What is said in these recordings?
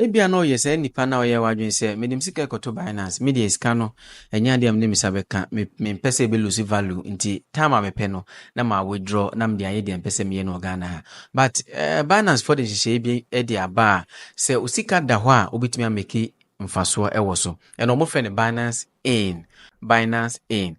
Ebia na ɔyɛ saa nipa no a ɔyɛɛ wadwene sɛ, mede me sika rekɔto Binance, me deɛ sika no, ɛnyɛ adeɛ a mede me nsa bɛka, me, mempɛ sɛ ɛbɛ lose value, nti time a mepɛ no, na ma withdraw, na mede ayɛ deɛ mpɛ sɛ meyɛ no wɔ Ghana ha. But eh, Binance foɔ de nhyehyɛeɛ bi de aba a, sɛ osika da hɔ a, wobɛtumi ameki mfasoɔ wɔ so. Ɛna wɔfrɛ no Binance In. Binance In.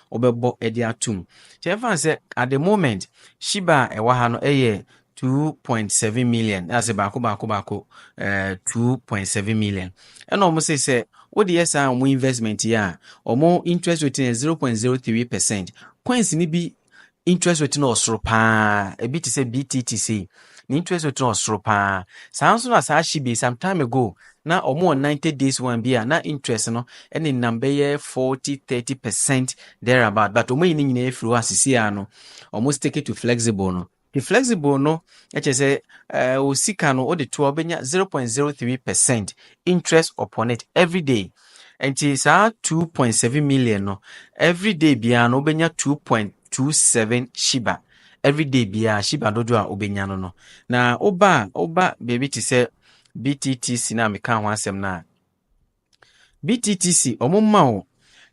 wɔbɛbɔ de ato mu. Nti ɛmfa ho sɛ at the moment Shiba a ɛwɔ ha no yɛ two point seven million na sɛ baako baako baako ɛɛ eh, two point seven million ɛna wɔn sɛ sɛ wode yɛ saa wɔn investment yi a wɔn interest rate no yɛ zero point zero three percent coins no bi interest rate no ɔsoro paa ebi te sɛ btt sei ne interest rate no ɔsoro paa saa nso na saa hye bi some time ago na wɔn wɔ ninety days one bi a na interest no ɛne nam bɛyɛ forty thirty percent there about but wɔn ayi ne nyinaa efiri hɔ asisi a no wɔn stick to flexible no the flexible no ɛkyɛ sɛ ɛɛ o sika no o de to a ɔbɛnya zero point zero three percent interest upon it every day Nti saa two point seven million no every day biara no wobɛnya two point two seven shiba every day biara shiba dodoɔ a wobɛnya no no na woba a woba baabi te sɛ bttc no a meka ho asɛm no a bttc ɔmo ma wo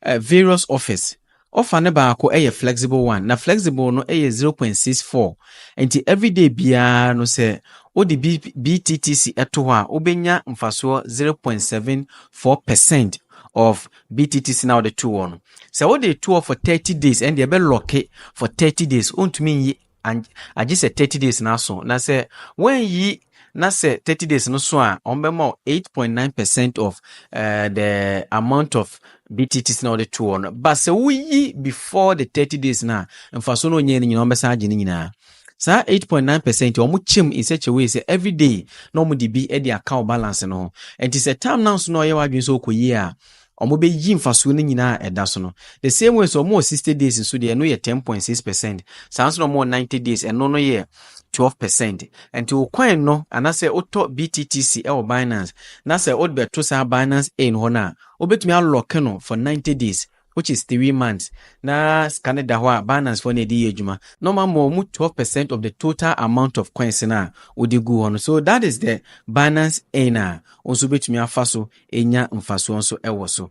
uh, various offers Ɔfa no baako yɛ flexible one na flexible no yɛ zero point six four nti everyday biara no sɛ wode B BTTC to hɔ a wobɛnya mfasoɔ zero point seven four percent of BTTC na wode to hɔ no. Sɛ wode to hɔ for thirty days ɛnde ɛbɛ lɔke for thirty days wontumi nyi and agye sɛ thirty days no aso na sɛ wɔanyi na sɛ thirty days no so a wɔbɛma wo eight point nine percent of uh, the amount of btts na wɔde to hɔ no ba sɛ woyi before the thirty days no a mfaso no onyɛ no nyinaa wɔbɛsan agye no nyinaa saa eight point nine percent wɔn kyɛm in such a way sɛ every day na wɔn de bi de aka wɔ balance no ho nti sɛ term na nso na ɔyɛ wadwene sɛ ɔkɔ yie a wɔbɛyi mfasoɔ no nyinaa a ɛda so no. The same way sɛ wɔn wɔ sixty days nso deɛ ɛno yɛ ten point six percent saa nso na wɔn wɔ ninety days ɛno no yɛ twelve percent nti wo coin no anasɛ wotɔ BTTC ɛwɔ Binance na sɛ wode bɛto saa Binance A no hɔ no a wobɛtumi alɔke no for ninety days which is three months na sika no da hɔ a Binance foɔ na ɛde yɛ adwuma na wɔn ama wɔn twelve percent of the total amount of coins no a wode gu hɔ no so that is the Binance Earn a wo nso wobɛtumi afa so anya mfasoɔ nso wɔ so.